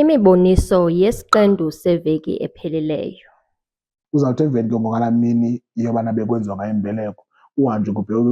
Imiboniso yesiqendu seveki ephelileyo. Uzawuthi emveni ke ngokala mini yobana bekwenziwa ngayo imbeleko kuhanjwe kubhekwe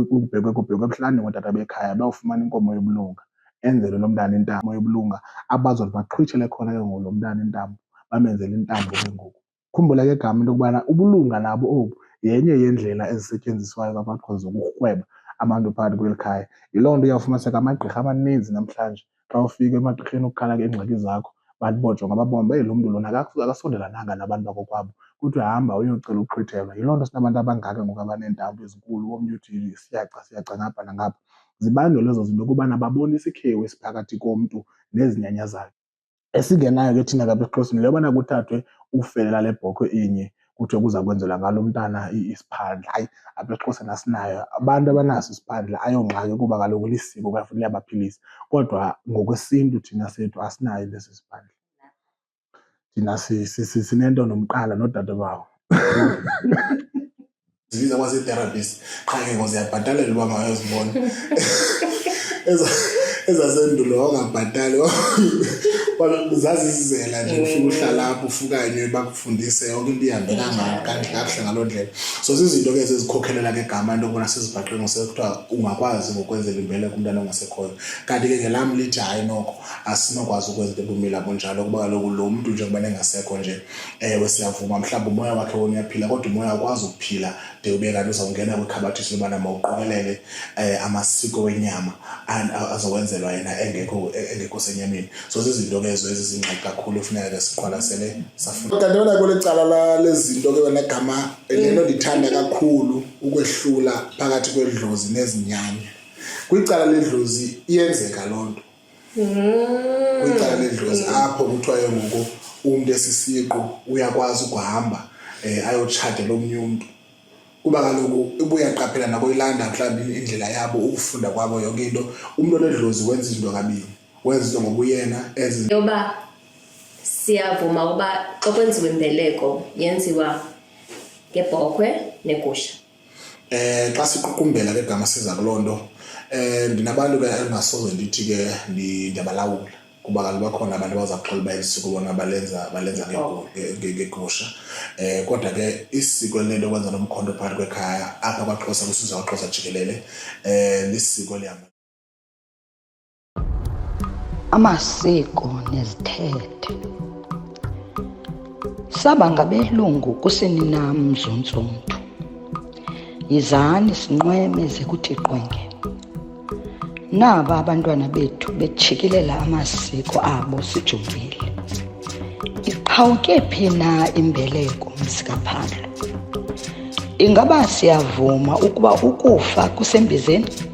kubhekwe ebuhlanti ngootata bekhaya bayofumana inkomo yobulunga enzelwe lo mntana intambo yobulunga abazothi baxhwitshele khona ke ngoku lo mntana intambo bamenzele intambo ke ngoku. Khumbula ke gama into yokubana ubulunga nabo obu yenye yeendlela ezisetyenziswayo ngamaxhosa zokurhweba abantu phakathi kweli khaya. Yiloo nto uyawufumaniseka amagqirha amaninzi namhlanje xa ufika emagqirheni ukukhala ke iingxaki zakho balibotshwa ngababona uba lo mntu lona akasondelananga nabantu bakokwabo kuthiwe hamba uyocela uqhwithelwa. Yiloo nto sinabantu abangaka ngoku abaneentambo ezinkulu womnye uthi siyaca siyaca ngapha nangapha. Zibangelwa ezo zinto kubana babona isikhewu esiphakathi komntu nezinyanya zakhe. Esingenayo ke thina ngapha esiXhoseni yile yobana kuthathwe ufele lale bhokhwe inye kuthiwe kuza kwenzelwa ngalo mntana isiphandla. Hayi, apha esiXhoseni asinayo. Abantu abanaso isiphandla ayongxaki kuba kaloku lisiko kuyafuneka liyabaphilisa. Kodwa ngokwesiNtu thina sethu asinayo into esi siphandla. Thina sinento nomqala nodadobawo. zibiza kwazii-therapist qha ke ngo ziyabhatalelwa uba mayozibona ezasendulo wawungabhatali zazizizela nje mm. ufike uhlala apho ufukanywe bakufundise yonke into ihambe kangani kanti kakuhle ngaloo ndlela so zizinto ke ezizikhokhelela ke gama into obona sezibhaqe ngosekuthiwa ungakwazi ngokwenzela imbeleko umntana ongasekhoyo kanti ke ngelam lithi hayi noko asinokwazi ukwenza ubumila bunjalo kuba kaloku lo mntu njengoba nengasekho nje ewe siyavuma mhlawumbi umoya wakhe wona uyaphila kodwa umoya akwazi ukuphila de ube kanti uzawungena kwikhabathiso lobana mawuqokelele um eh, amasiko wenyama azowenzelwa yena engekho e-, engekho senyameni so zizinto ke ezo ezizingxaki kakhulu efuneka ke siqwalasele safunakanti yona kweli cala lezinto ke wena gama lento ndithanda kakhulu ukwehlula phakathi kwedlozi nezinyanya kwicala ledlozi iyenzeka loo nto mm. kwicala ledlozi apho kuthiwa ke ngoku umntu esisiqu uyakwazi ukuhamba um ayotshade lo mnye umntu kuba kaloku ubuyaqaphela nakoyilanda mhlawumbi indlela yabo ukufunda kwabo yonke into umntu onedlozi wenza izinto kabini wenza izinto ngobuyena eziyoba siyavuma ukuba xa kwenziwa imbeleko yenziwa ngebhokhwe negusha Eh xa siqukumbela ke gama siza kuloo nto eh ndinabantu ke engasoze ndithi ke ndiyabalawula kuba kaloku bakhona abantu abaza kuxola uba isiko bona balenza balenza oh. ngegusha um kodwa ke isiko elinento kwenza nomkhondo phakathi kwekhaya apha kwaxhosa kwisizwe kwaxhosa jikelele um lisiko lihamba amasiko nezithethe. Saba ngabelungu kusinina mzontsonto. Yizani sinqweme ze kuthi qwenge. Naba abantwana bethu betshikilela amasiko abo sijongile. Iqhawuke phi na imbeleko msikaphando? Ingaba siyavuma ukuba ukufa kusembizeni?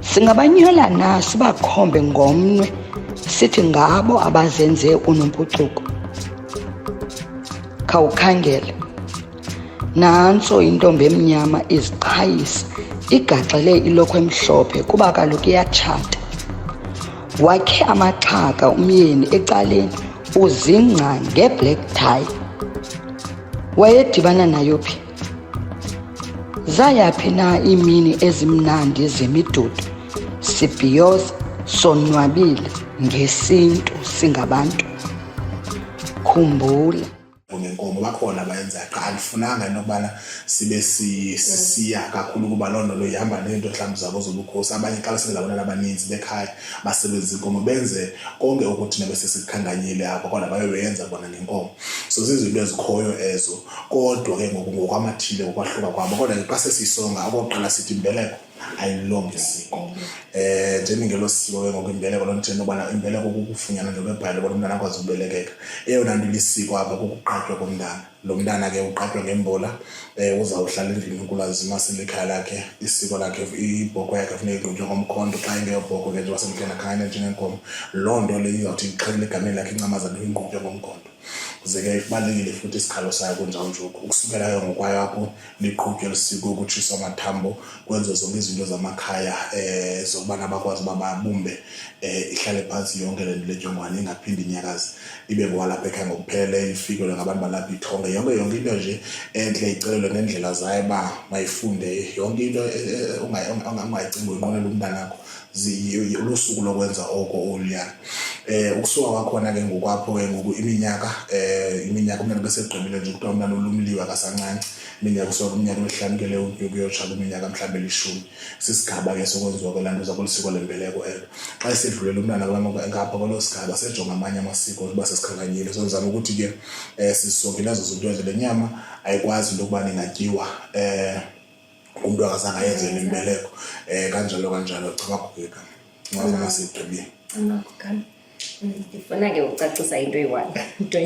Singabanyula na sibakhombe ngomnwe sithi ngabo abazenze unompucuko? Khawukhangele. Nantso intombi emnyama iziqhayisa igaxele ilokhwe emhlophe kuba kaloku iyatshata. Wakhe amaxhaka umyeni ecaleni uzingca ngeblack tie. Wayedibana nayo phi? Zayaphi na iimini ezimnandi zemidudu sibhiyoza sonwabile ngesintu singabantu? Khumbula ngenkomo bakhona bayenza qha andifunanga into yokubana sibe sisiya kakhulu kuba loo nto lo ihamba neento mhlawumbi zabo zobukhosi abanye xa besengabonana abaninzi bekhaya basebenzisa inkomo benze konke okuthi nabesesikhanganyile apho kodwa bayoyenza bona ngenkomo so zizinto ezikhoyo ezo kodwa ke ngoku ngokwamathile ngokwahluka kwabo kodwa ke xa sesiyisonga akokuqala sithi imbeleko ayililongo isiko um eh, njengengelo siko ke ngoku imbeleko loo nto ubana imbeleko kukufunyana nto kwebhayile bona umntana akwazi ukubelekeka eyona nto ilisiko apha kukuqatywa komntana lo mntana ke uqatywa ngembola um uzawuhlala endlini kulazima silikhaya lakhe isiko lakhe ibhoko yakhe funeka igqutywe ngomkhondo xa ingeyobhoko ke njengoba semhleni akhaye nenjengenkomo loo nto leyo izawuthi ixhele egameni lakhe incamazana ingqutywe ngomkhondo ze ke kubalulekile futhi isikhalo sayo kunjawunjuku ukusukela ke ngokwayo apho liqhutywa elisiko ukutshiswa amathambo kwenze zonke izinto zamakhaya um zokubana bakwazi uba babumbe um ihlale phantsi yonke le nto letyongwane ingaphindi inyakazi ibe ngowalapha ekhaya ngokupheleleyo ifikelwe ngabantu balapha ithonge yonke yonke into nje entle icelelwe ngendlela zayo uba mayifunde yonke into e, e, e, ungayicinga uyinqwenela umntanakho lusuku lokwenza oko oluyana eh ukusuka kwakhona ke ngokwapho ke ngoku iminyaka eh iminyaka umntana besegqibile nje kuthiwa umntana ulumliwe akasancanci iminyaka usuka kumnyaka emihlabukele ukuyotsha kwiminyaka mhlawumbi elishumi sisigaba ke sokwenziwa kwelaa nto zakulisiko lembeleko elo xa esedlulele umntana ngapha kwelo sigaba sejonga amanye amasiko uba sesikhankanyile so ndizama ukuthi ke um sisongile ezo zinto ezo le nyama ayikwazi into yokuba ningatyiwa um umntu akazange ayenze nembeleko um kanjalo kanjalo chabagugeka ngazama sigqibile ndifuna ke ucacisa into eyi-one into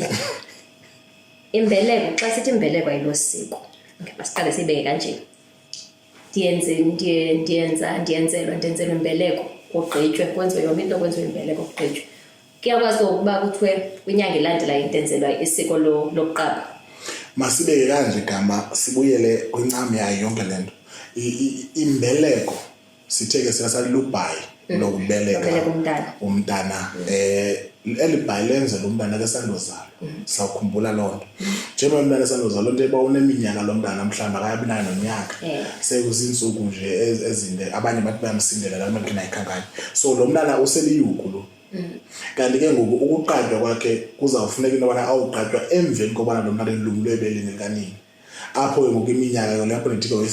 imbeleko xa sithi imbeleko ayilo siko okay masiqale siyibeke kanje ndiyenze ndiyenza ndiyenzelwa ndenzelwa imbeleko kugqitywe kwenziwe yonke into kwenziwe imbeleko kugqitywe kuyakwazi ke ukuba kuthiwe kwinyanga elandelayo into enzelwayo isiko lo- lokuqapha masibeke kanje gama sibuyele kwincam yayo yonke le nto I- i- imbeleko sithe ke siyasalubhayi lokubeleka Lokubeleka umntana. umntana um eli bhayi lenzela umntana ke sandozalwa sawukhumbula loo nto njengoba umntana esandozalwa into yoba uneminyaka lo mntana mhlawumbi akayabi nayo nonyaka Eh. sekuziintsuku nje ez- ezinde abanye bathi bayamsindelela loo mntana ayikhankanye so lo mntana useliyuku lo kanti ke ngoku ukuqatywa kwakhe kuzawufuneka into yobana awuqatywa emveni kobana lo mntana elulungulwe ebeleni likanini apho ke ngoku iminyaka yona apho ndithiba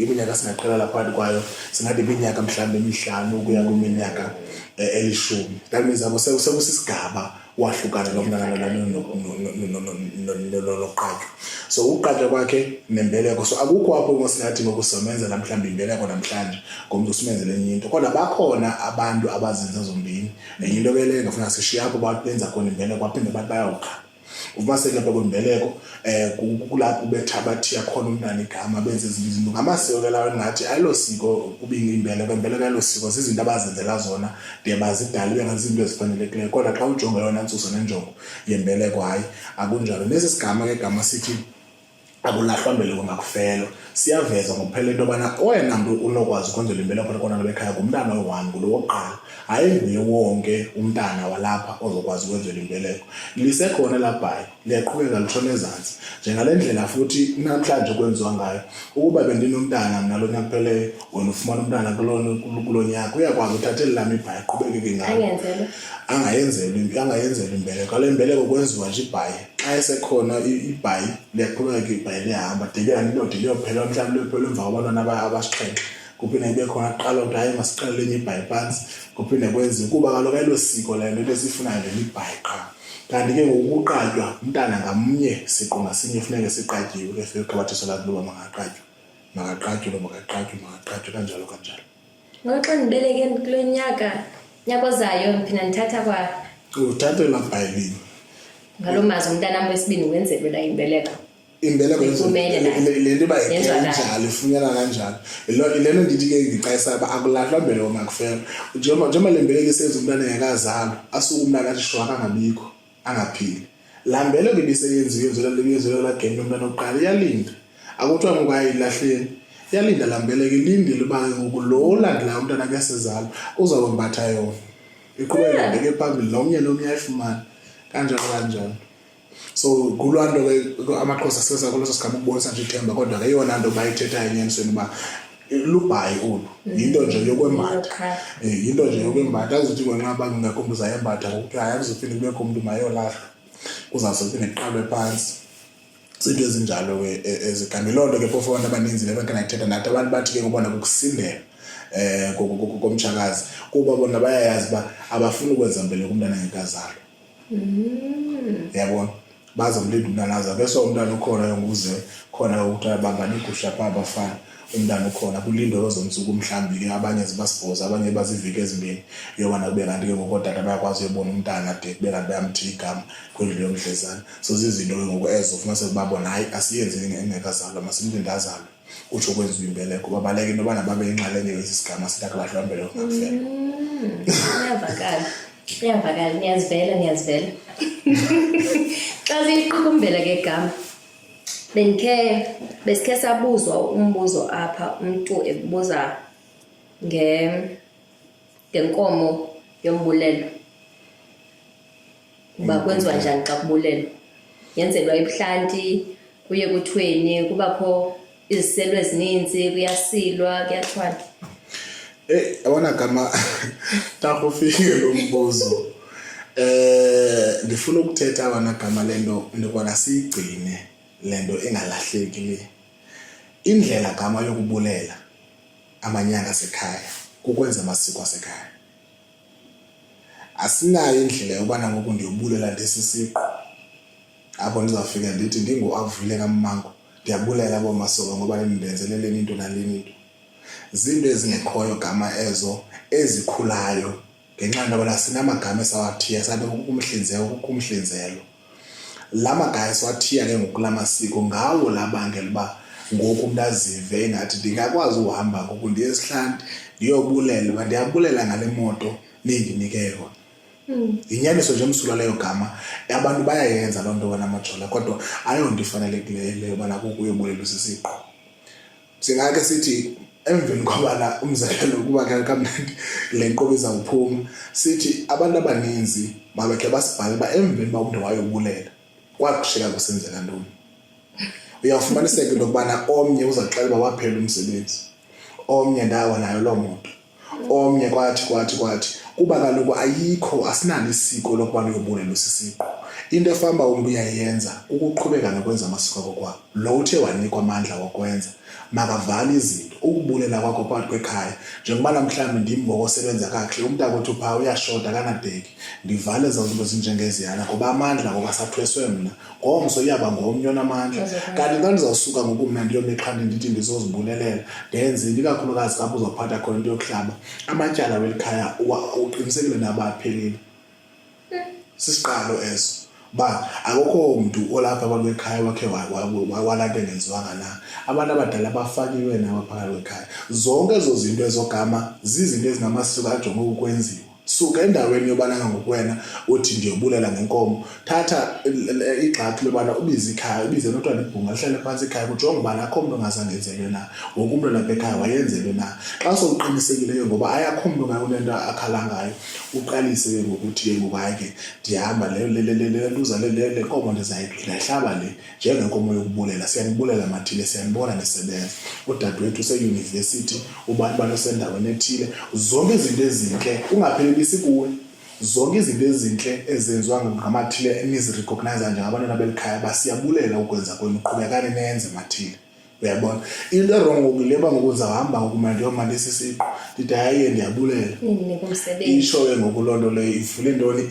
iminyaka singaqhelela phakathi kwayo singathi iminyaka mhlawumbi emihlanu ukuya kwiminyaka eh, elishumi that means abo sekusisigaba wahlukana lo mntana loqatywa so ukuqatywa kwakhe nembeleko so akukho apho singathi ngoku somenzela mhlawumbi imbeleko namhlanje ngomntu osimenzele enye into kodwa bakhona abantu abazenza zombini enye into ke leyo ngafuna sishiye apho abantu benza khona imbeleko baphinde abantu bayawuqala umaseke lapha kwembeleko um kulapho ubetha bathiya khona umntana igama benze ezinye izinto ngamasiko ke lawo endingathi ayilo siko kubinga imbeleko imbeleko ayilo siko zizinto abazenzela zona de bazidala ibe ngathi izinto ezifanelekileyo kodwa xa ujonge yona ntsusa nenjongo yembeleko hayi akunjalo nesi sigama ke gama sithi akulahlwa mbeleko ngakufelwa siyaveza ngokuphelela into yobana oyena mntu unokwazi ukwenzela impela khona kona bekhaya ngumntana oyi-one ngulo wokuqala hayi nguye wonke umntana walapha ozokwazi ukwenzela impeleko lisekhona elabhayi liyaqhubeka lutshona ezantsi njengale ndlela futhi namhlanje kwenziwa ngayo ukuba bendinomntana mna lo nyaka pheleyo wena ufumana umntana kulo nyaka uyakwazi uthatheli lam ibhayi qhubekeke ngayo angayenzelwa imbeleko ale mbeleko kwenziwa nje ibhayi xa esekhona ibhayi liyaqhubeka ke ibhayi liyahamba de liyanilode liyophela mhlawumbi liyophela emva kwabantwana abayo abasixhenxe kuphinde kube khona kuqala ukuthi hayi masiqale lenye ibhayi phantsi kuphinde kwenziwe kuba kaloku elo siko le nto lesifunayo leli ibhayi qha kanti ke ngokuqatywa umntana ngamnye siqu ngasinye funeke siqatyiwe ke fike uqabathiso lakhe loba makaqatywe makaqatywe lo makaqatywe makaqatywe kanjalo kanjalo Ngoxa ndibeleke kulo nyaka nyaka ozayo ndiphinda ndithatha kwa uthathe emabhayibini ngaloo mazwi umntanam wesibini wenzelwe la imbeleko imbeleko le nto ibayenjalo ifunyana kanjalo le nto ndithi ke ndicayisa uba akulahlwa mbeleko makufela njengoba le mbeleko isenza umntana engekazalwa asuke umntana athi shwaka ngabikho angaphili laa mbelo ke ibiseyenziwe yenzelwa libiyenzelwa laa game yomntana oqala iyalinda akuthiwa ngoku ayilahleni iyalinda laa mbelo ke ilindile uba ke ngoku lo ulandelayo umntana ke sezalwa uzawumbatha yona iqhubekela ndeke phambili nomnye nomnye ayifumane kanjalo kanjalo so kulaa nto ke amaqhosa sesa kuleso sigama ukubonisa nje ithemba kodwa ke yona nto bayithethayo enyanisweni uba lubhayi olu yinto nje yokwembatha eh, yinto nje yokwembatha azothi kwanqaba ngekho mntu uzayembatha ngokuthiwa hayi kuzophinde kubekho mntu mayolahlwa kuzazophinde kuqalwe phantsi zinto ezinjalo ke e, ezigambi loo nto ke phofu abantu abaninzi le bake nayithetha nathi abantu bathi ke kubona kukusindela um komtshakazi kuba bona bayayazi uba abafuni ukwenza mbele kumntana ngekazalo mm. yabona baze mlinda umntana aza bese umntana ukhona yokuze khona ukuthi abangane igusha pha abafana umntana ukhona kulindwe lezo nsuku mhlawumbi ke abanye zibasibhoza abanye bazivike ezimbini yobana kube kanti ke ngokodata bayakwazi uyobona umntana de kube kanti bayamthia igama kwendlu yomdlezana so zizinto ke ngoku ezo funa sekubabona hayi asiyenzini engekazalwa masimlinde azalwe kutsho kwenziwa imbeleko babaleke into yobana babe yinxalenye yesi sigama sitakulahlwa mbeleko ngakufela mm, iyavakala iyavakala niyazivela niyazivela xa ziyiqukumbela ke gama bendikhe besikhe sabuzwa umbuzo apha umntu ebubuza ngenkomo yombulelo uba kwenziwa njani xa kubulelwa yenzelwa ebuhlanti kuye kuthweni kubakho iziselo ezininzi kuyasilwa kuyathwana eyi abona gama takufike lo mbuzo eh ndifuna ukuthetha abana gama le nto ndikona siyigcine le nto ingalahleki le indlela gama yokubulela amanyanga asekhaya kukwenza amasiko asekhaya Asinayo indlela yobana ngoku ndiyobulela ndesi siqu apho ndizawufika ndithi ndinguavile kammango ndiyabulela boomasoka ngoba nindenzeleleni into nalini into ziinto ezingekhoyo gama ezo ezikhulayo ngenxa yento yobana sinamagama esawathiya sathi kukumhlinzeko kukumhlinzelo La magaya siwathiya ke ngokula masiko ngawo labangela uba ngoku umntu azive ingathi ndingakwazi uhamba ngoku ndiye esihlanti ndiyobulela uba ndiyabulela ngale moto nindinike yona hmm. yinyaniso nje msulwa leyo gama abantu bayayenza loo nto wena majola kodwa ayonto ifanelekileyo leyo ubana kukuyobulela usisiqo singake sithi emveni kwabana umzekelo ukuba ke kamnandi le nkqubo izawuphuma sithi abantu abaninzi mabekhe basibhale uba emveni uba umntu wayobulela kwakushiyeka kusenzeka ntoni uyawufumaniseka into yokubana omnye uzawuxela uba waphela umsebenzi omnye ndawo nayo loo moto omnye kwathi kwathi kwathi kuba kaloku ayikho asinalo isiko lokuba luyobulelwa sisiqu into efamba umntu uyayenza ukuqhubeka nokwenza amasiko akokwabo lo uthe wanikwa amandla wokwenza makavale izinto ukubulela kwakho phakathi kwekhaya njengoba namhlawumbi ndim ngokosebenza kakuhle umntu akothi uphaa uyashota akanabheki ndivale ezo zinto zinjengeziyana ngoba amandla ngoba sathweswe mna ngomso iyaba ngomnye onamandla kanti xa ndizawusuka ngoku mna ndiyomexhandi ndithi ndizozibulelela ndenzile ikakhulukazi xa kuzawuphatha khona into yokuhlaba amatyala weli khaya uqinisekile naba aphelile sisiqalo eso uba akukho mntu olapha abantu bekhaya wakhe walaa nto engenziwanga na abantu abadala bafakiwe naba phakathi kwekhaya zonke ezo zinto ezogama zizinto ezinamasiko ajonge ukwenziwa suka endaweni yobalanga ngokwena uthi ndiyobulela ngenkomo thatha igxathu lobana ubize ikhaya ubize notwana ibhunga lihlale phantsi ikhaya kujonga ubana akho mntu ongazange enzelwe na wonke umntu lapha ekhaya wayenzelwe na xa sowuqinisekileyo ngoba ayakho mntu ngayo unento akhala ngayo uqalise ke ngokuthi ke ngoku hayi ke ndihamba le nto uzale le nkomo ndizayihlaba le njengenkomo yokubulela siyanibulela mathile siyanibona nisebenza udadewethu useyunivesithi ubani bani osendaweni ethile zonke izinto ezintle ungaphelelisi kuwe zonke izinto ezinhle ezenziwa ngamathile nizirecogniza njengabantwana belikhaya basiyabulela ukwenza kwenu qhubekani nenze mathile uyabona into erongo kile uba ngoku ndizawuhamba ngoku mandiyoma ndisisiqu ndithi haye ndiyabulela itsho ke ngoku loo nto leyo ivule ntoni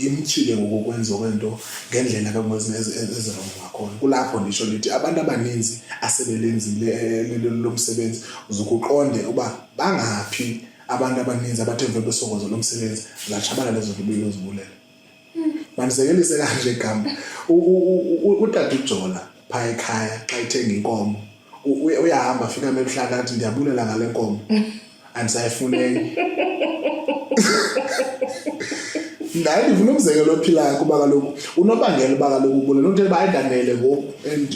imtyhile ngoku kwenziwa kwento ngendlela ke ngoku ezirongo ngakhona kulapho nditsho ndithi abantu abaninzi asebelenzile eh, lo msebenzi uzukuqonde uba bangaphi abantu abaninzi abathe mve besokozo lo msebenzi zatshabalala ezo nto beyozibulela mandisekelise kanje igama utata ujola phaa ekhaya xa ithenga inkomo uyahamba afika mebuhlala athi ndiyabulela ngale nkomo andisayifuneki naye ndifuna umzekelo ophilayo kuba kaloku unobangela uba kaloku ubulelo uthe bayidanele ngoku and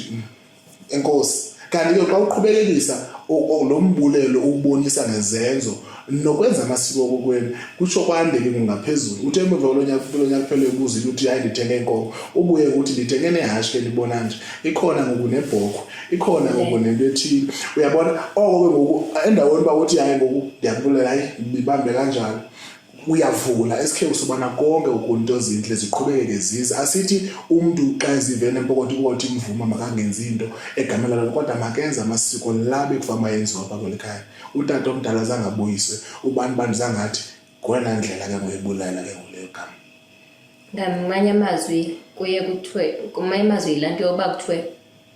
enkosi kanti ke xa uqhubelekisa lo mbulelo ukubonisa ngezenzo nokwenza amasiko kokwenu kutsho kwande ke kungaphezulu uthe emva kwalo nyaka kulo nyaka kuphele ubuzile ukuthi hayi ndithenge inkomo ubuye ukuthi ndithenge nehashe ke ndibona nje ikhona ngoku nebhokhwe ikhona ngoku nento ethile uyabona oko ke ngoku endaweni uba uthi hayi ngoku ndiyakubulela hayi ndibambe kanjalo uyavula esikhewu sobana konke ukunto ezinhle ziqhubekeke zize asithi umntu xa ezivele empokotho ukoti imvuma makangenzi into egamela lalo kodwa makenze amasiko la bekufa mayenziwa apha kweli khaya utata omdala zangabuyiswe ubani bani zangathi ngwena ndlela ke ngoyibulala ke nguleyo gama ngamanye amazwi kuye kuthiwe kumanye amazwi yilaa nto yoba kuthiwe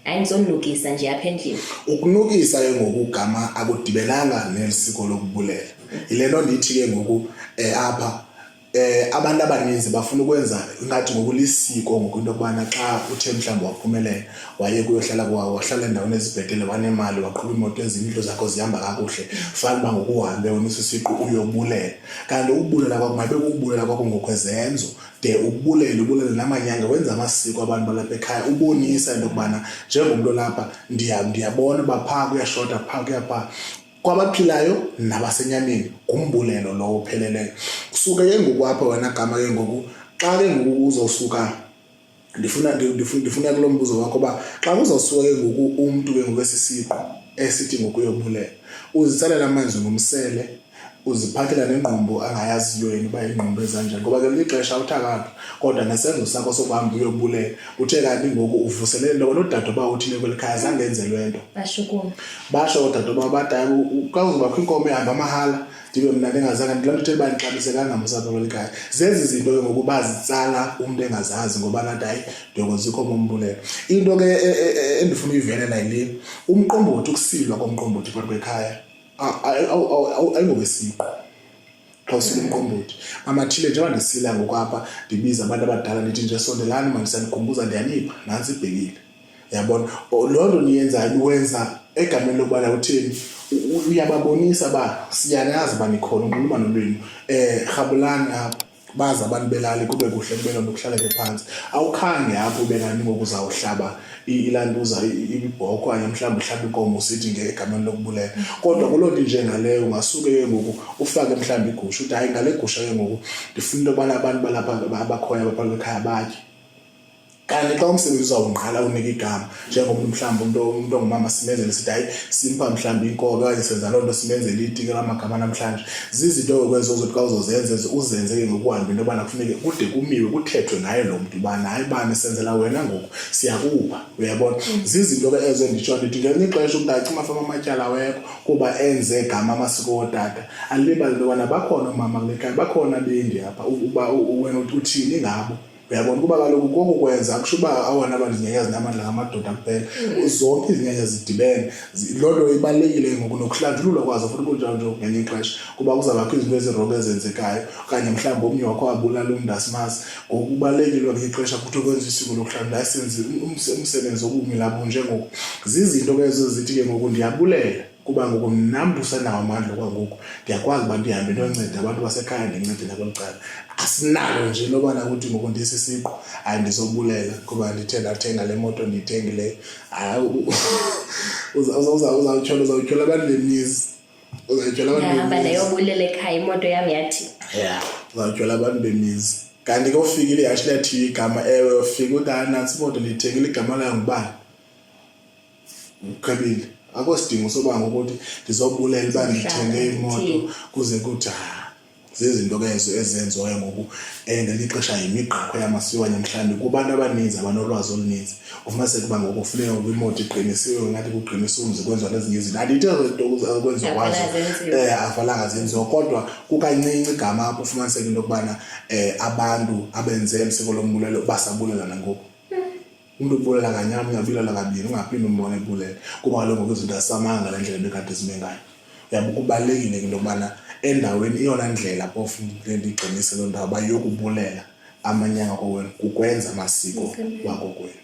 ayindizonukisa nje apha endlini ukunukisa ke ngoku ugama akudibenanga nelisiko lokubulela yile nto ndithi ke ngoku um apha eh abantu abaninzi bafuna ukwenza ingathi ngokulisiko ngoku into yokubana xa uthe mhlawumbi waphumelela waye kuyohlala kwawo wahlala endaweni ezibhetele wanemali waqhuba imoto ezindlu zakho zihamba kakuhle fanele uba ngokuhambe wena usisiqu uyobulela kanti ukubulela kwakho mayibe kukubulela kwakho ngokwezenzo de ubulele ubulele namanyanga wenze amasiko abantu balapha ekhaya ubonisa into yokubana njengomntu olapha ndiyabona uba phaa kuyashota phaa kuyaphaa kwabaphilayo nabasenyameni ngumbulelo lowo upheleleyo kusuke ke ngoku apha wena gama ke ngoku xa ke ngoku uzosuka ndifuna ndifuna kulo mbuzo wakho uba xa kuzawusuka ke ngoku umntu ke ngokwesi siqu esithi ngokuyobulela uzitsalela amanzi ngomsele uziphathela nengqumbo angayaziyo yena uba ingqumbo ezanjani ngoba ke lixesha uthakaphi kodwa nesenzo sakho sokuhamba uyobulela uthe kanti ngoku uvuselele ntoba nodade uba uthile kweli khaya zangenzelwe nto basho oodade uba badayo kawuzibakho inkomo ehamba amahala ndibe mna ndingazanga ndilaa nto uba ndixabisekanga msapho lolikayo zezi zinto ke ngokuba zitsala umntu engazazi ngoba nathi hayi ndiyokwenza ikhomo ombulelo into ke e, e, e, endifuna uyivelela yileni umqombothi ukusilwa komqombothi phakathi kwekhaya ayingowesiqo xa usile umqombothi amathile njengoba ndisila ngokwapha ndibiza abantu abadala ndithi nje sondelani mani siyanikhumbuza ndiyanipha nantsi ibhekile yabona loo nto niyenzayo niwenza egameni lokubana utheni uyababonisa uba siyanazi uba nikhona unxulumano lwenu um rhabulani apho bazi abantu belali kube kuhle kube lonto kuhlaleke phantsi awukhange apho ube kanti ngoku uzawuhlaba ilantuza ibhoko anye mhlawumbi uhlaba inkomo usithi ngegameni lokubulela kodwa kuloo nto njengaleyo ungasuke ke ngoku ufake mhlawumbi igusha uthi hayi ngale gusha ke ngoku ndifuna into yobana abantu balapha abakhoyo abaphalu bekhaya batye kanti xa umsebenzi uzawungqala unike igama njengomntu mhlawumbi umntu umntu ongumama simenzele sithi hayi simpha mhlawumbi inkolo okanye senza loo nto simenzele itike lamagama namhlanje zizinto okwenza ozothi xa uzozenze uzenze ke ngokuhambi into yobana kufuneke kude kumiwe kuthethwe ngaye lo mntu ubana hayi bani senzela wena ngoku siyakupha uyabona mm. zizinto ke ezo enditsho ndithi ngelinye ixesha umntu acima fama amatyala wekho kuba enze gama amasiko wootata alibali into yobana bakhona omama kule khaya bakhona bendi apha uba wena uthini ngabo uyabona ukuba kaloku koku kwenza akusho uba awona bazinyanya zinamandla ngamadoda kuphela mm. zonke izinyanya zidibene loo nto ibalulekile ngoku nokuhlanjululwa kwazo futhi kunjalo nje ngenye ixesha kuba kuzawubakho izinto ezirongo ezenzekayo okanye mhlawumbi omnye wakho wabulala umndasimazi ngoku kubalulekile ngenye ixesha kuthi okwenza isiko lokuhlanjula asenze um-, umsebenzi obumila bunje ngoku zizinto ke ezo zithi ke ngoku ndiyabulela kuba ngoku nam usenawo amandla okwangoku ndiyakwazi uba ndihambe ndiyonceda abantu basekhaya ndincede nakweli cala asinalo nje lobana ukuthi ngoku ndisi siqu hayi ndizobulela kuba ndithe ndathenga le moto ndiyithengileyo hayi uzawutyhola uzawutyhola abantu bemizi uzawutyhola abantuhamba leyo bulela ekhaya imoto yam yathi ya uzawutyhola abantu bemizi kanti ke ufikile ihashilathi igama ewe ufike uthi anantsi imoto ndiyithengile igama langubani ngigqibile akho sidingo soba ngokuthi ndizobulela uba ndithenge imoto kuze kuthi ha zizinto ke ezo ezenziwayo ngoku and lixesha yimigqakho yamasiwanye mhlawumbi kubantu abaninzi abanolwazi oluninzi ufumaniseke uba ngoku funeka kwimoto iqinisiwe ngathi kuqinisa umzi kwenziwa nezinye izinto andithi ezozinto kwenziwa kwazo um avalanga zenziwa kodwa kukancinci igama apho ufumaniseke into yokubana um abantu abenze emseko lombulelo basabulela nangoku umntu ubulela kanyama ungabilela kabini ungaphinde umbone ebulela kuba kaloku ngoku izinto asamanga ngale ndlela ebekade zime ngayo yabo kubalulekile ke into yokubana endaweni iyona ndlela phofu le ndigqinise loo ndawo uba yokubulela amanyanga kokwenu kukwenza amasiko wakokwenu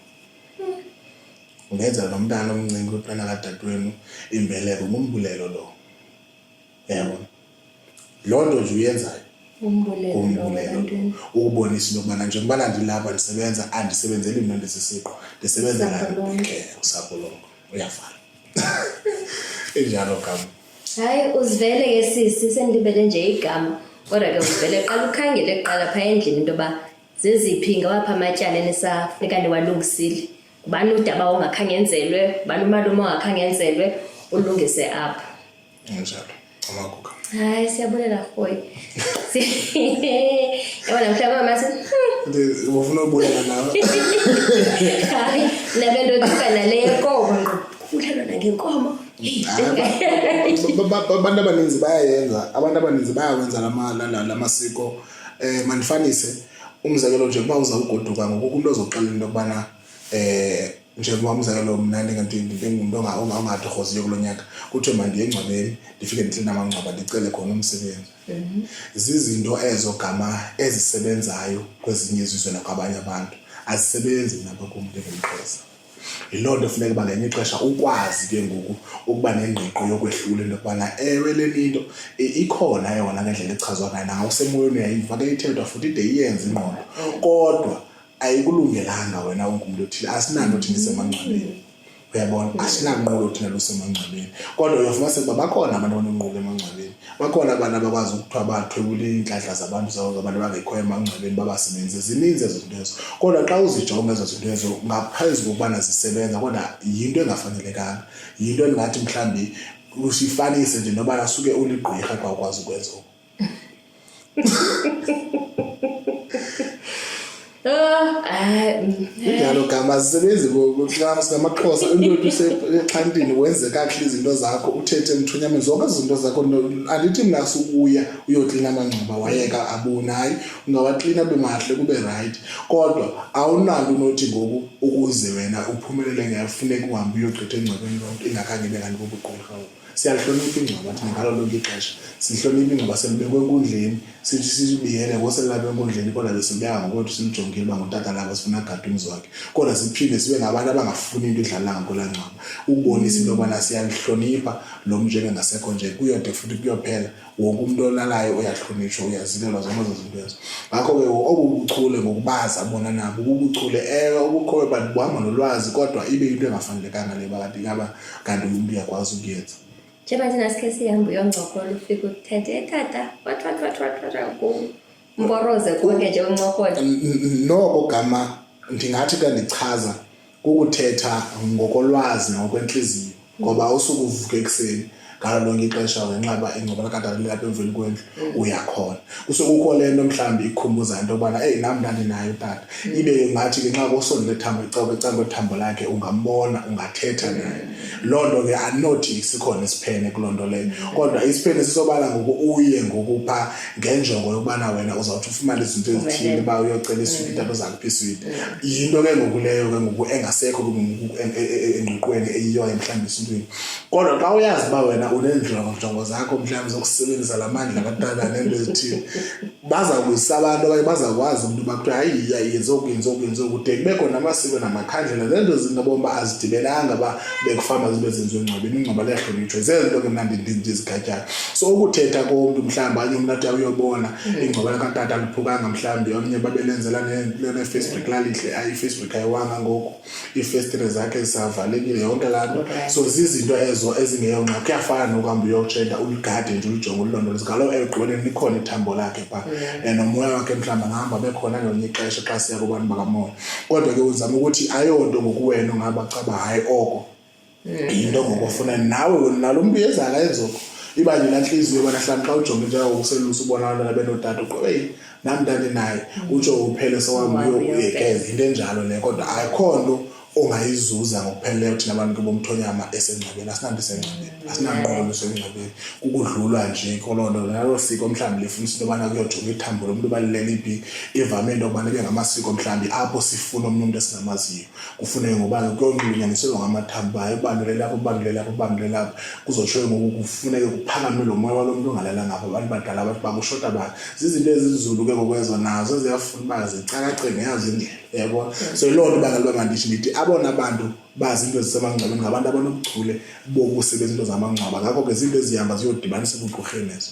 ungenzela nomntana omncinci utwana kadadewenu imbeleko ngumbulelo lowo yabo loo nto nje uyenzayo umbulelo ukubonisa into yokubana njengobana ndilapha ndisebenza andisebenzeli mna ndisisiqo ndisebenzela usapho lonke uyafana injalo gam hayi uzivele ke sisi sendibele nje igama kodwa ke uzivele qala ukhangele kuqala phaa endlini into yoba zeziphi ngawaphi amatyala enisafuneka ndiwalungisile ngubani udaba ongakhange enzelwe ngubani umalume ongakhange enzelwe ulungise apho abantu abaninzi bayayenza abantu abaninzi bayawenza la masiko um mandifanise umzekelo nje uba uzawugoduka ngoku umntu ozoxelela into yokubana eh njengoba umzalelo mna ndingumntu ongadohoziyo kulo nyaka kuthiwe mandiye engcwabeni ndifike ndithi namangcwaba ndicele khona umsebenzi mhm. zizinto ezo gama ezisebenzayo kwezinye izizwe nakwabanye abantu azisebenzi mna bakum ndingumqeza yiloo nto funeka uba ngenye ixesha ukwazi ke ngoku ukuba nengqiqo yokwehlula into yokubana ewe le into ikhona yona ngendlela echazwa ngayo nangakusemoyeni uyayiva ke ithethwa futhi ide iyenze ingqondo kodwa ayikulungelanga wena ungumntu othile asinanto thina isemangcwabeni uyabona asinanqolo thina lusemangcwabeni kodwa uyofumaniseka uba bakhona abantu abanonqolo emangcwabeni bakhona abantu abakwazi ukuthiwa bathwebule iintlahla zabantu zabo abantu abangekhoyo emangcwabeni babasebenzise zininzi ezo zinto ezo kodwa xa uzijonga ezo zinto ezo ngaphezu kokubana zisebenza kodwa yinto engafanelekanga yinto endingathi mhlawumbi usifanise nje noba asuke uligqwirha xa ukwazi ukwenza oku kunjalo gama zisebenzi ngamaxhosa intothi usexhantini wenze kakuhle izinto zakho uthethe emthonyameni zonke izinto zakho andithi mna sukuya uyoklina amangcuba wayeka aboni hayi ungawaklina abe mahle kube rayithi kodwa awunanto unothi ngoku ukuze wena uphumelele ngayo funeka uhambe uyogqitha engcwabeni loo nto ingakhange ibe kanti bobugqorha siyahlonipha ingcwaba thina ngalo lonke ixesha sihlonipha ingcwaba selibekwe enkundleni sithi sibiyele ngoselilapha enkundleni kodwa besilibeka ngokwethu silijongile uba ngutata labo sifuna agade umzi wakhe kodwa siphinde sibe ngabantu abangafuni into idlala ngakula ngcwaba ukubonisa into yobana siyalihlonipha lo mntu njengengasekho nje kuyode futhi kuyophela wonke umntu olalayo uyahlonitshwa uyazilelwa zonke ezo zinto ezo ngakho ke obu buchule ngokubaza bona nabo bubuchule ewe eh, obukhoyo bantu buhamba nolwazi kodwa ibe into engafanelekanga le bakati kaba kanti umntu uyakwazi ukuyenza njengoba thina sikhe sihambe uyongcokolo ufike uthethe etata eh, wathathathathatha kum Mboroze konke nje uncokola. Noko gama ndingathi xa ndichaza kukuthetha ngokolwazi nokwenhliziyo ngoba usuku uvuke ekuseni ngalo lonke ixesha wenxaba ingcobana kadalile apha emveni kwendlu uyakhona kusekukho le nto mhlawumbi ikhumbuza into yobana eyi nam ndandinayo utata ibe ngathi ke nxa kosondele thambo ecaba ecaba kwethambo lakhe ungambona ungathetha naye loo nto ke anothi sikhona isiphene kuloo nto leyo kodwa isiphene sisobala ngoku uye ngokupha ngenjongo yokubana wena uzawuthi ufumane izinto ezithile uba uyocela iswiti mm. abaza kuphi iswiti mm. yinto ke ngoku leyo ke ngoku engasekho ke ngoku e, e, e, engqiqweni eyiyoyo mhlawumbi esintwini kodwa xa uyazi uba wena uneenjongonjongo zakho mhlawumbi zokusebenzisa la mandla katata neento ezithile baza kuyisa abantu okanye bazakwazi umntu uba kuthiwa hayi yiya yenze oku yenze oku yenze oku de kube khona amasiko namakhandlela zeento zingabomi uba azidibenanga uba bekufama zibe zenziwe engcwabeni ingcwaba liyahlonitshwa zezinto ke mna ndizigatyayo so ukuthetha komntu mhlawumbi anye umntu athi uyobona hmm. ingcwaba likatata liphukanga mhlawumbi omnye babelenzela nefacebook lalihle ayi ifacebook ayiwanga ngoku iifestire zakhe zisavalekile yonke laa nto so zizinto ezo ezingeyo nqa kuyafana nokuhamba uyotshenda uligade nje ulijonge ulilondoloze ngaloo ekugqibeleni likhona ithambo lakhe phaa hmm. and umoya wakhe mhlawumbi angahamba bekhona ngelinye ixesha xa siya kubantu bakamoya kodwa ke uzama ukuthi ayonto ngokuwena ungaba caba hayi oko eh. yinto ngokofuna nawe wena nalo mntu uyezala ezoko iba nje laa ntliziyo yobana hlambi xa ujonge njengoko uselusa ubona abantwana benodata uqobe nam ntanti naye mm. utsho uphele sowamuyekeza yinto enjalo le kodwa akho nto ongayizuza ngokupheleleyo thina bantu bomthonyama esengcwabeni asinanto isengcwabeni mm. asinanqolo sengcwabeni kukudlulwa nje koloo nto naloo siko mhlawumbi lifunisa into yobana kuyojonga ithambo lomntu balilele iphi ivame into yokubana ibe ngamasiko mhlawumbi apho sifuna omnye umntu esingamaziyo kufuneke ngobana kuyonxulunyaniseka ngamathambo ayo ubalulele apho ubalulele apho ubalulele apho kuzotsho ngoku kufuneke kuphakame lo moya walo mntu ungalalanga apho abantu badala abantu bakushota abantu zizinto ezinzulu ke ngokwezo nazo ziyafuna uba zicakacenge yazo indlela yabona so yiloo nto ibangela uba mandithi ndithi abona bantu bazi into ezisemangcwabeni ngabantu abanobuchule bokusebenzisa into zamangcwaba ngako ke ziinto ezihamba ziyodibanisa ebugqurheni ezo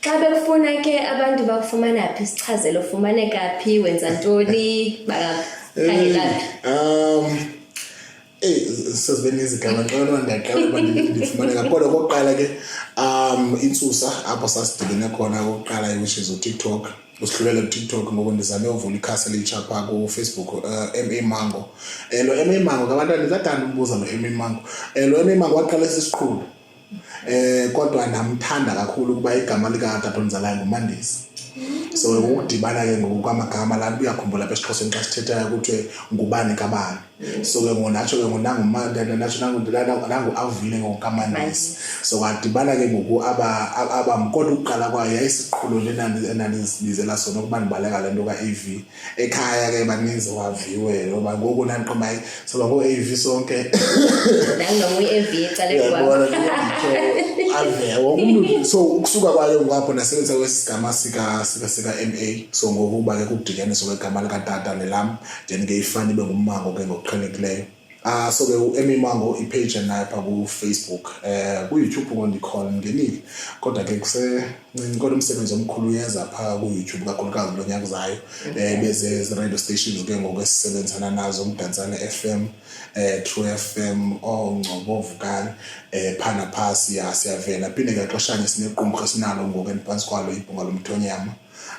xa bekufuna ke abantu bakufumana phi sichazelo ufumaneka phi wenza ntoni bangakhangelaphi um eyi sezibeninzi gama nxanwa ndiyaqala uba ndifumaneka kodwa okokuqala ke um intsusa apho sasidibene khona okokuqala which is utiktok usihlulele kutiktok ngoku ndizame uvula ikhasi elitsha pha kufacebook um eh, ma mango um lo ma mango ngabantwana ndisathanda umbuza lo ma mango um lo ma mango waqala sisiqhulo Eh kodwa namthanda kakhulu kuba igama lika Tata Mzalayo nguMandisi. So ukudibana ke ngoku kwamagama la uyakhumbula apha esiXhoseni xa sithethayo kuthiwe ngubani kabani. So ke ngoku natsho ke ngoku nangumanda natsho nangu-avile ngokukamandisi. So kwadibana ke ngoku aba aba kodwa ukuqala kwayo yayisiqhulo nje enandizibizela sona ukuba ndibaleka le nto ka-A_V. ekhaya ke baninzi waviwe ngoba ngoku nanquma soba ngo-av sonke avea wonke umntu so ukusuka kwayo kwapho nasebenzisa kwesi sigama sika-m a so ngokuba ke kudityaniswa kwegama likatata nelam then ke ifani ibe ngummango ke ngokuqhelekileyo Ah so ke uEmi Mango ipage nayo pha ku Facebook. Eh ku YouTube ngo ndikhona ngenile. Kodwa ke kusencinci kodwa umsebenzi omkhulu uyeza pha ku YouTube kakhulukazi lo nyaka uzayo. Eh beze ze radio stations ke ngokwesisebenzana nazo umdansane FM, eh True FM, ongcobo vukani, eh phana pha siya siyavela. Phinde ke xoshanye sinequmrhu esinalo ngoku eniphansi kwalo ibhunga lomthonyama.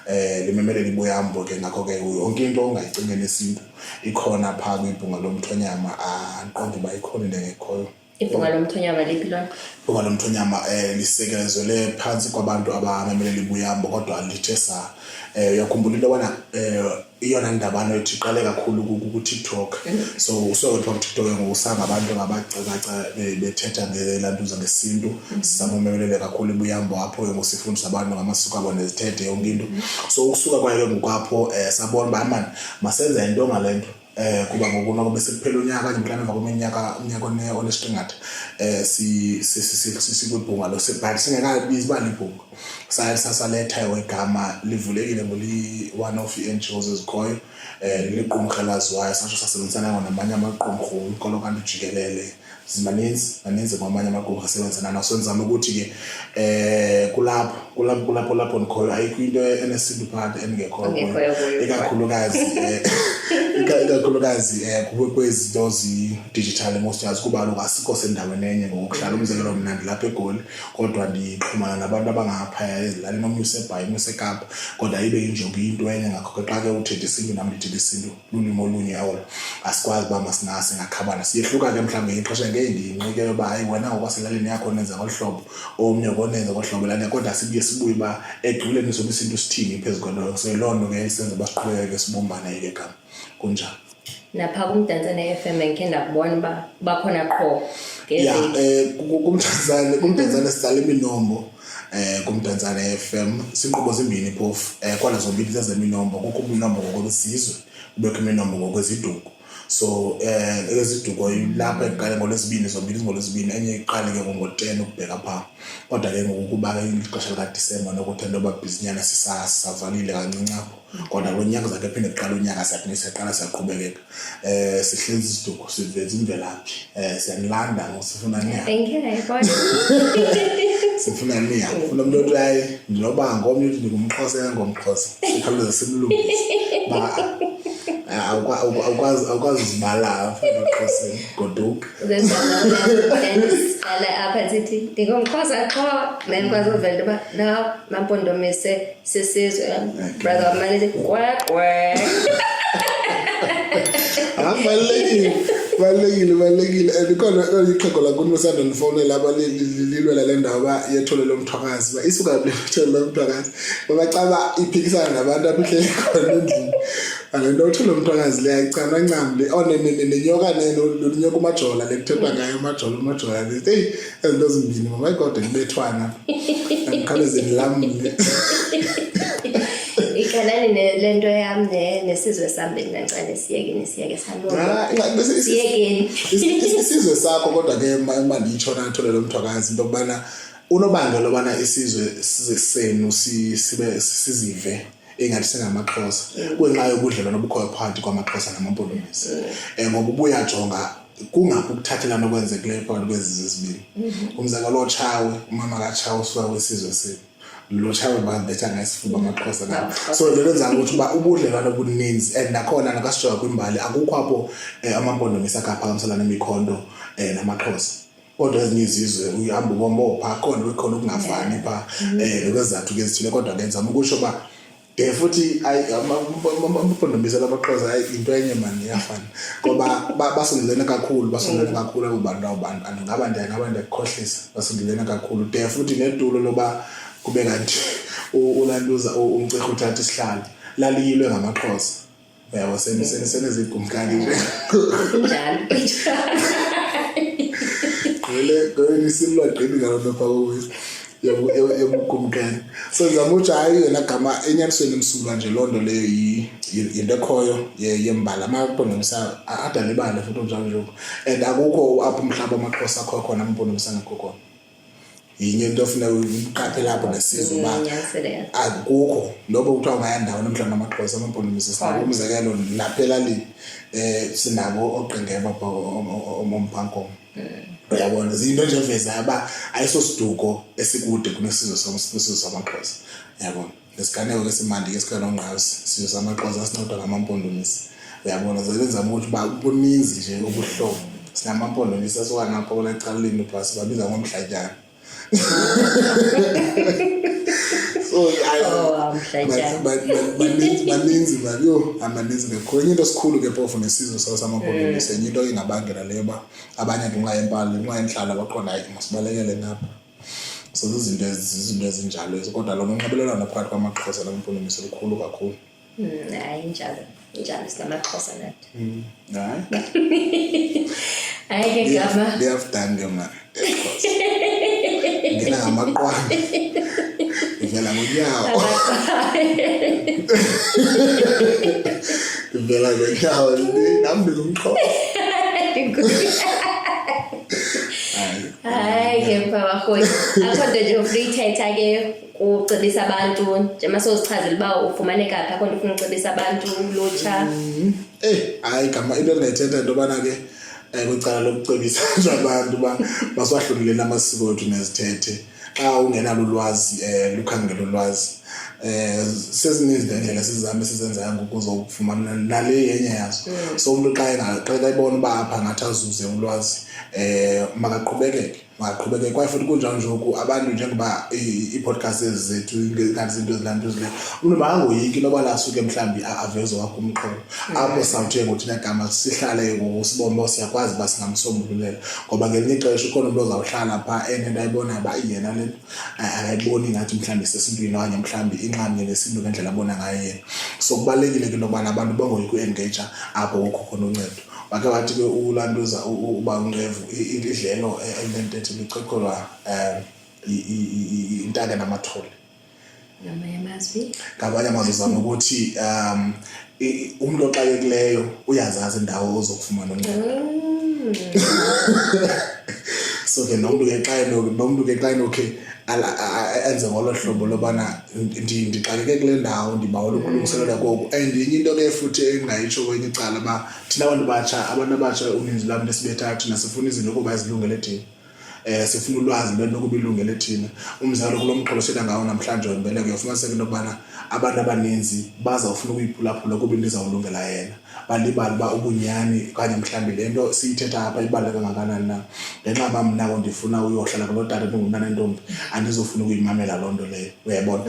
eh limemelela ibuyambo ke ngakho ke yonke into ongayicingela esintu ikhona phaa kwibhunga lomthonyama andiqonde uba ikhona into engekhoyo ibhunga lomthonyama liphi lona ibhunga lomthonyama eh lisekelezele phansi kwabantu abamemelela ibuyambo kodwa lithe sa eh uyakhumbula into yobana eh iyona ndaba anoyithi iqale kakhulu kutiktok so usewethu wakutiktok ngokusanga abantu ngabacacaca bethetha ngelantuza ngesintu sisamumelele kakhulu ibuyambo apho ke ngosifundisa abantu ngamasiko abo nezithethe yonke into so ukusuka kwaye ke ngokwapho um eh, sabona uba mani masenza into ngale nto eh kuba ngoku noko bese kuphela unyaka kanye mhlawumbe emva kweminyaka unyaka one onesixingatha eh si si si si si kubhunga lo sebhayi singekabizi bani ibhunga saye sasaletha ewe gama livulekile ngoli-one of ii-ngos ezikhoyo um liqumrhu elaziwayo satsho sasebenzisana ngo namanye amaqumrhu umkolo kanti ujikelele zimaninzi maninzi kwamanye amaqumrhu asebenzisana naso ndizama ukuthi ke um kulapho kulapho kulapho lapho ndikhoyo ayikho into enesintu phakathi endingekhoyo kuyo ikakhulukazi eh, ikakhulukazi um eh, kwezinto zidijithali mostyazi kuba kaloku asikho sendaweni enye ngokuhlala umzekelo mna ndilapha egoli kodwa ndixhumana nabantu abangaphaya ezilalini omnye usebhayi omnye usekapa kodwa ibe injongo iyinto enye ngakho ke xa ke uthetha isintu nam ndithetha isintu lulimo olunye olo asikwazi uba masina singakhabana siyehluka ke mhlawumbi ngexesha ngeye ndiyinqike yoba hayi wena ngokwaselalini yakho onenza ngolu hlobo omnye ngonenza ngolu hlobo lane kodwa sibuye sibuye uba egqibeleni sona isintu sithini phezu kwento yonke so yiloo nto ke isenza uba siqhubeke ke sibumbane ke gama kunjalo napha kumdantsane FM ngikhe ndakubona uba bakhona qho ya um eh, kumdantsane kumdantsane sihlala iminombo eh kumdantsane FM sinqubo zimbini phofu eh kwana zombili zezeminombo kukho uminombo ngokwesizwe kubekho iminombo ngokweziduko so eh eziduko lapha eqale ngolwesibini zombili ngolwesibini enye iqale ke ngo-10 ukubheka pha kodwa ke ngokuba ixesha likaDisemba nokuthi into yoba bhizinyana sisavalile kancinci apho kodwa lo nyaka zakhe phinde kuqala unyaka siyaphinde siyaqala siyaqhubekeka eh sihlenza isiduko siveza imvelaphi eh siyanilanda ngosifuna niya thank you kodwa sifuna niya ufuna umuntu othi hayi ngiloba ngomnye uthi ngumxhosa ngomxhosa sikhawuleza simlungise ba awukwazi awukwazi uzibala apha emaqhoseni goduka siqale apha sithi ndingumxhosa qho nayikwazi uvela uba naw mampondomise sisizwe brother wamanele kwekwe abalekile balekile balekile and ikhona ixhego lakuthi usanda ndifowunela abalilwela le ndawo uba yethole lo mthwakazi uba isuka le thole lo mthwakazi babacaba iphikisana nabantu abihleli khona endlini ale nto uthole umthwakazi le ayicana ncam le onenenenenyoka oh, nene lunyoka umajola le kuthethwa ngayo umajola umajola le eyi ezinto ezimbini mama igode kubethwana andikhawulezeni lam ikhalani le nto yam nesizwe sam bendingancane siyekeni siyeke salosiyekeni ah, isizwe sakho kodwa ke uma nditsho nathole lo mthwakazi into yokubana unobangela obana isizwe senu sibe sizive ingathi singamaxhosa mm. kungenxa yobudlelwane obukhoyo phakathi kwamaxhosa namampondomise um mm. eh, ngoba ubuyajonga kungaphi ukuthathelana okwenzekileyo phakathi kwezi zezibini mm-hmm. umzekelo otshawe umama katshawe usuka wesizwe senu lotshawe babetha ngesifuba amaxhosa na so le nto nzanga ukuthi uba ubudlelwane obuninzi and nakhona nakasijonga kwimbali akukho apho um eh, amampondomise akaphakamiselana imikhondo um eh, namaxhosa kodwa ezinye izizwe uyihamba ubombo pha kodwa bekhona ukungavani pha um eh, ngokwezizathu ke ezithile kodwa ke ndizama ukusho uba de futhi amapondobisela amaqhoza ayi into enye mani iyafana ngoba basondelene kakhulu basondelene kakhulu abo bantu abo bantu andingaba ndiya ngaba ndiyakukhohlisa basondelene kakhulu de futhi netulo loba kube kanti ulantuza umcirha uthatha isihlalo laliyilwe ngamaxhosa uyabo senezikumkani nje gqile gqile nisilwa gqili ngalo nophakukuyo yobukumkani so ngizama ukuthi hhayi yona gama enyanisweni emsulwa nje loo nto leyo yinto ekhoyo yembala amampondomise adala ibala futhi onjalo njengo and akukho apho umhlaba amaxhosa akhoyo khona amampondomise angekho khona yinye into ofuneka uyiqaphela apho ngesizwe uba akukho noba kuthiwa ungaya ndawo namhlanje amaxhosa amampondomise sinabo umzekelo lapha elalini um sinabo oqingeba omomphankomo uyabona zinto nje vezayo uba ayisosiduko esikude kunesizwe samaxhosa uyabona nesiganeko ke simandi ke sikanongqawusi siyo samaxoza asinceda ngamampondomisi uyabona zebenzama ukuthi uba kuninzi nje ubuhlobo sinamampondomisi asiwanapho kunacalulini ubhasi babiza ngomhlatyana Oh, baninzi bayo amaninzi ngekhulu enye into esikhulu ke phofu nesizwe sawo samapolisa enye into ingabangela leyo uba abanye ngenxa yempalo ngenxa yentlala baqonda hayi masibalekele ngapha so zizinto zizinto ezinjalo ezo kodwa lo nonxibelelwano phakathi kwamaxhosa nampondomise lukhulu kakhulu mm, hayi njalo njalo sinamaxhosa nathi mm, hayi hayi ke gama they have done ke man ngena ngamaqwana ngivela ngonyawo ngivela ngonyawo nam ndingumxhosa hayi ke mfakakhona akho nto nje ufuna uyithetha ke ucebisa abantu nje masozichazela uba ufumaneka phi akho nto ufuna ucebisa abantu lutsha mm-hmm. eyi hayi gama into endingayithetha into yobana ke um kwicala lokucebisa abantu uba basiwahluleleni amasiko wethu nezithethe xa ungenalo ulwazi um lukhangela ulwazi um sezininzi ndendlela sizihamba esizenzayo ngoku zokufumana nale yenye yazo mm. so umntu xa engaqeka ibona uba apha ngathi azuze ulwazi um makaqhubekeke maqhubeke kwaye futhi kunjalo njoku abantu njengoba ii-podcast ezi zethu ngathi zinto ezilanto ezileyo umntu makangoyiki noba lasuke mhlawumbi aveze wakho umqholo apho sawuthi ngoku thina gama sihlale ngoku sibone uba siyakwazi uba singamsombululela ngoba ngelinye ixesha ukhona umntu ozawuhlala phaa enento ayibonayo uba iyena le nto akayiboni ngathi mhlawumbi sesintwini okanye mhlawumbi inxamnye nesintu ngendlela abona ngayo yena so kubalulekile ke into yokubana abantu bangoyika uengaja apho kukho khona uncedo wakhe wathi ke ulantuza uba unqevu idlelo elinentetho licocolwa um intaka namathole ngamanye amazwi zama ukuthi um umntu oxakekileyo uyazazi indawo ozokufumana uncedo mm. so ke nomntu ke xa nomntu ke xa enokhe enze ngolo hlobo lobana ndixakeke kule ndawo ndibawela ukulungiselela koku and inye into ke futhi engayitsho kwenye icala uba thina bantu batsha abantu abatsha uninzi lwam nto esibethathu nasifuna izinto ukuba ezilungele thina um sifuna ulwazi le nto ukuba ilungele thina umzali kulo mxholo sithetha ngawo namhlanje wembeleko uyofumaniseka into yokubana abantu abaninzi bazawufuna ukuyiphulaphula kuba into izawulungela yena balibale uba ubunyani okanye mhlawumbi le nto siyithetha apha ibaluleke kangakanani na ngenxa uba mnako ndifuna uyohlala kulo tata ndingumntana entombi andizofuna ukuyimamela loo nto leyo uyayibona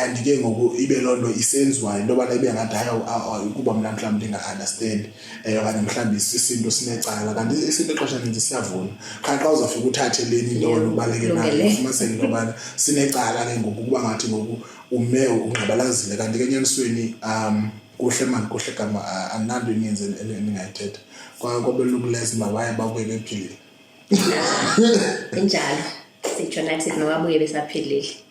and ke ngoku ibe loo nto isenziwayo into yobana ibe ngathi hayi kuba mna mhlawumbi ndinga-understandi um okanye mhlawumbi isisintu sinecala kanti isintu ixesha ninzi siyavuna qha xa uzawufika uthathe leni into olubaleke nayo ufumaniseke into yobana sinecala ke ngoku ukuba ngathi ngoku ume ungqabalazile kanti ke enyanisweni um kuhle mani kuhle gama andinanto ininzi endingayithetha kwabelungulezo uba baye babuye bephilile kunjalo sitsho nathi nowabuye besaphilile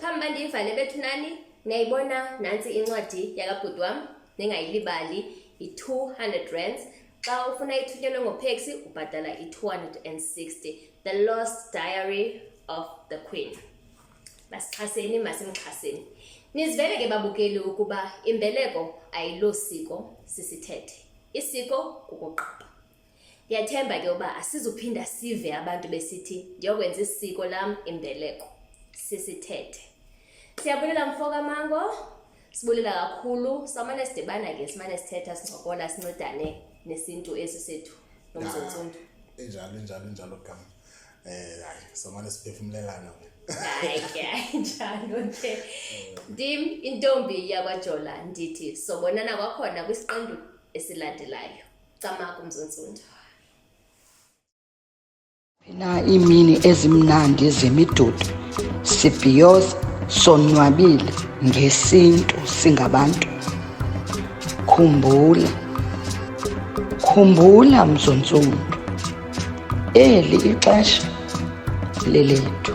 Phambi uba ndiyivale bethunani niyayibona nantsi incwadi yakabhuti wam ningayilibali yi-200 rands xa ufuna ithunyelwe ngophexi ubhatala i-260 the lost diary of the queen basixhaseni masimxhaseni nizivele ke babukeli ukuba imbeleko ayilosiko sisithethe isiko kukuqapha Ndiyathemba ke uba asizuphinda sive abantu besithi ndiyokwenza isiko lam imbeleko sisithethe. Siyabulela mfo kamango, sibulela kakhulu samane sidibana ke simane sithetha sincokola sincedane nesintu esi sethu nomzonsuntu. Enjalo enjalo enjalo gama. Eh hayi samane siphefumlelana ke. Hayi ke njalo nje. Ndim intombi yakwaJola ndithi sobonana kwakhona kwisiqendu esilandelayo. Camagu Mzonsundo. Phela iimini ezimnandi zemidudu sibhiyoza sonwabile ngesintu singabantu. Khumbula, khumbula Mzonsundo, eli ixesha lelethu.